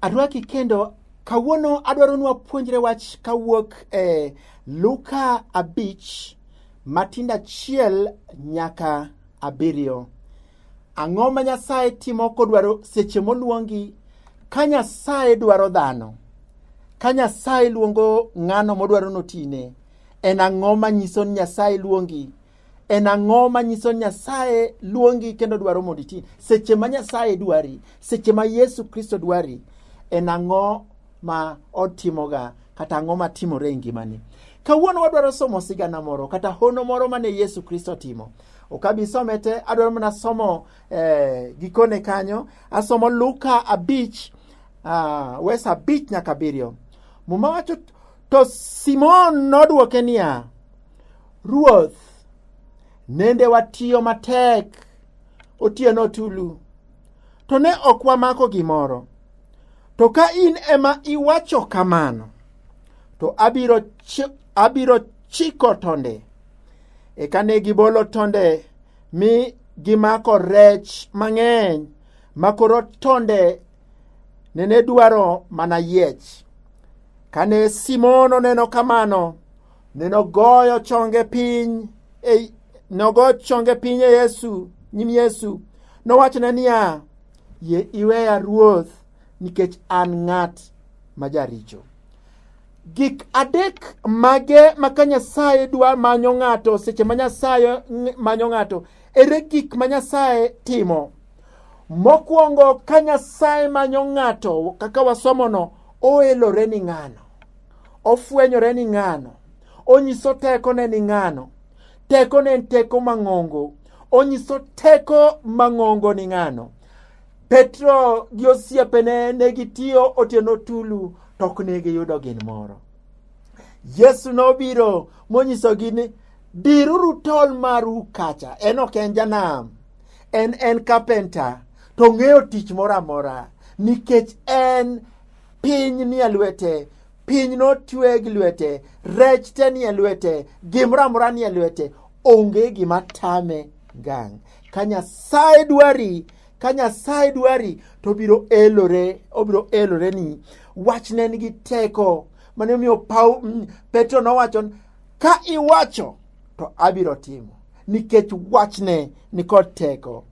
Arwaki kendo kawuono adwaro nwa puonjre wach kawuok e eh, Luka abich matindo achiel nyaka abiriyo. Ang'o ma Nyasaye timo kodwaro seche moluongi? Ka Nyasaye dwaro dhano, ka Nyasaye luongo ng'ano modwaro notine, en ang'o ma nyiso ni Nyasaye luongi? en ang'o manyiso nyasaye luongi kendo dwaro mondo iti seche ma nyasaye dwari seche ma yesu kristo dwari en ang'o ma otimoga kata ang'o ma timore e ngimani kawuono wadwaro somo sigana moro kata hono moro mane yesu kristo timo okabisome te adwaro mana somo eh, gikone kanyo asomo luka abich uh, wes abich nyaka abiriyo muma wacho to simon nodwoke niya ruoth nende watiyo matek otieno tulu to ne ok wamako gimoro to ka in ema iwacho kamano to abiro, ch abiro chiko tonde Eka ne gibolo tonde mi gimako rech mang'eny ma koro tonde nene dwaro mana yiech. Kane Simon oneno kamano, ne nogoyo chonge piny e, nogo chonge piny e Yesu, nyim Yesu. Nowachone niya, yie iweya Ruoth nikech an ng'at ma jaricho. Gik adek mage ma ka Nyasaye dwa manyo ng'ato seche ma Nyasaye manyo ng'ato? Ere gik ma Nyasaye timo? Mokwongo ka Nyasaye manyo ng'ato kaka wasomono, oelore ni ng'ano, ofwenyore ni ng'ano, onyiso tekone ni ng'ano, tekone en teko mang'ongo, onyiso teko mang'ongo ni ng'ano. Petro gi osiepene ne gitiyo otieno tulu to ok ne giyudo gin moro. Yesu nobiro monyisogi ni diruru tol maru kacha. En ok en janam, en en kapenta to ong'eyo tich moro amora nikech en piny nie lwete piny notwe gi lwete rech te nie lwete gimoro amora nie lwete onge gima tame gang ka nyasaye dwari ka nyasaye dwari to obiro elore obiro elore ni wach ne nigi teko mane omiyo pau mm, petro nowacho ka iwacho to abiro timo nikech wachne nikod teko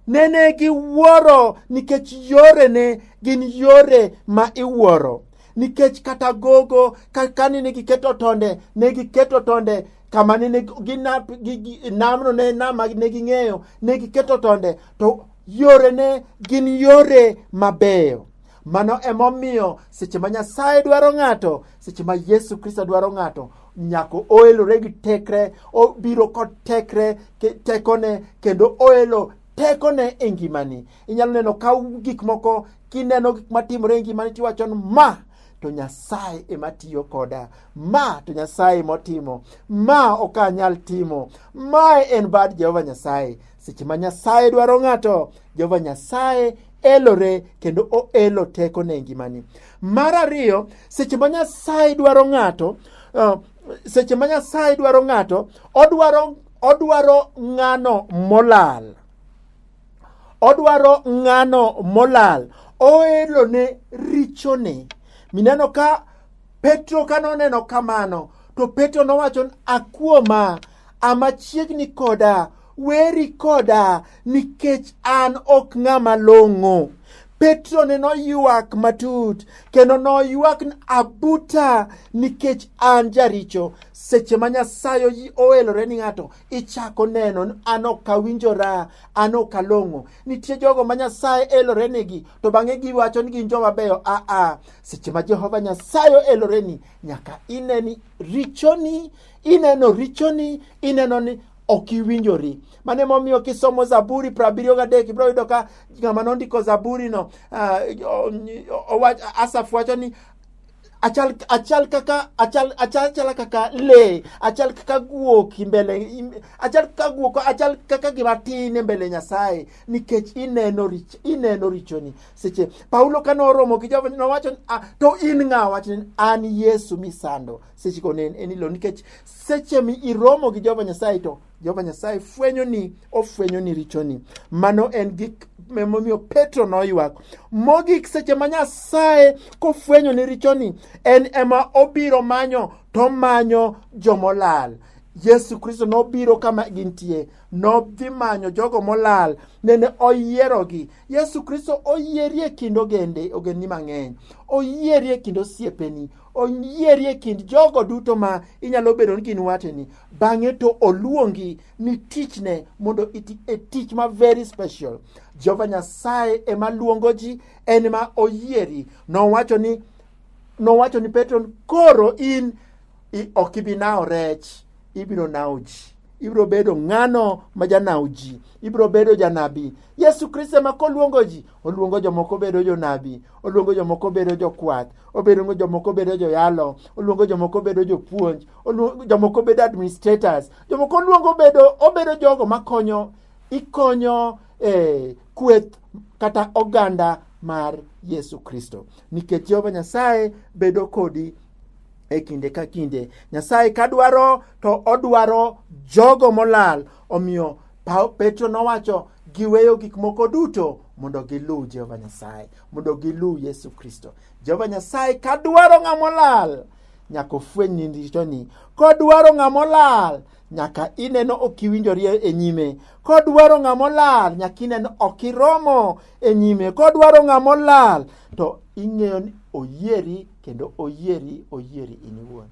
nene giwuoro nikech yorene gin yore ma iwuoro nikech kata gogo kani ne giketo tonde ne giketo tonde kama ne ne ginap gi, gi, namno ne nam ma ne ging'eyo ne giketo tonde to yore ne gin yore mabeyo mano emomiyo seche ma nyasaye dwaro ng'ato seche ma yesu kristo dwaro ng'ato nyako oelore gi tekre obiro kod tekre ke- tekone kendo oelo tekone e ngimani Inyalo neno ka gik moko kineno gik matimore e ngimani tiwacho ni ma to Nyasaye ema tiyo koda. Ma to Nyasaye motimo. Ma ok anyal timo. Mae en bad Jehova Nyasaye. Seche ma Nyasaye dwaro ng'ato, Jehova Nyasaye elore kendo oelo teko ne ngimani. Mar ariyo, seche ma Nyasaye dwaro ng'ato, uh, seche ma Nyasaye dwaro ng'ato, odwaro odwaro ng'ano molal. odwaro ng'ano molal oelo ne richone mineno ka petro ka noneno kamano to petro nowacho akuoma amachiegni koda weri koda nikech an ok ng'ama long'o petro ne noywak matut kendo noywak abuta nikech an jaricho seche ma nyasaye oelore ni ng'ato ichako neno ni an ok awinjora an ok along'o nitie jogo ma nyasaye elorenegi to bang'e giwacho ni gin joma beyo aa seche ma jehova nyasaye oeloreni nyaka ineni richoni ineno richoni ineno ni ok iwinjori mano emomiyo kisomo zaburi prabiriyo gadek ibiro yudo ka ng'ama nondiko zaburino uh, asaf wacho ni achal achal kaka achal achal chala kaka le achal kaka guok imbele achal kaka guok achal kaka gima tin imbele nyasaye nikech ineno rich ineno richoni seche paulo kane oromo gi jehova nowacho ah, to in ng'a wach ni an yesu misando seche go ne en ilo nikech seche mi iromo gi jehova nyasaye to Jehova Nyasaye fwenyoni, ofwenyoni richoni. Mano en gik momiyo Petro noywak. Mogik seche ma Nyasaye kofwenyoni richoni, en ema obiro manyo to manyo jomolal. Yesu Kristo nobiro kama gintie, nodhi manyo jogo molal, nene oyierogi. Yesu Kristo oyieri e kind ogende, ogendni mang'eny. Oyieri e kind osiepeni, onyieri e kind jogo duto ma inyalo bedo ni gin wateni bang'e to oluongi ni tichne mondo iti e tich ma very special jehova nyasaye ema luongo ji en ma oyieri nowacho ni nowacho ni petro koro in ok ibi nawo rech ibiro nawo ji ibiro bedo ng'ano ma janawo ji ibiro bedo janabi yesu kristo ema koluongo ji oluongo jomoko bedo jonabi oluongo jomoko bedo jokwath obedo jomoko bedo joyalo oluongo jomoko bedo jopuonj jomoko bedo administrators jomoko oluongo bedo obedo jogo makonyo ikonyo eh, kweth kata oganda mar yesu kristo nikech jehova nyasaye bedo kodi e kinde ka kinde nyasaye ka dwaro to odwaro jogo molal Omiyo Petro nowacho giweyo gik moko duto mondo giluw Jehova Nyasaye, mondo giluw Yesu Kristo. Jehova Nyasaye ka dwaro ng'ama olal nyaka ofweny ni richoni, kodwaro ng'ama olal nyaka ineno ok iwinjori e nyime, kodwaro ng'ama olal nyaka ineno ok iromo e nyime, kodwaro ng'ama olal to ing'eyo ni oyieri kendo oyieri oyieri in iwuon.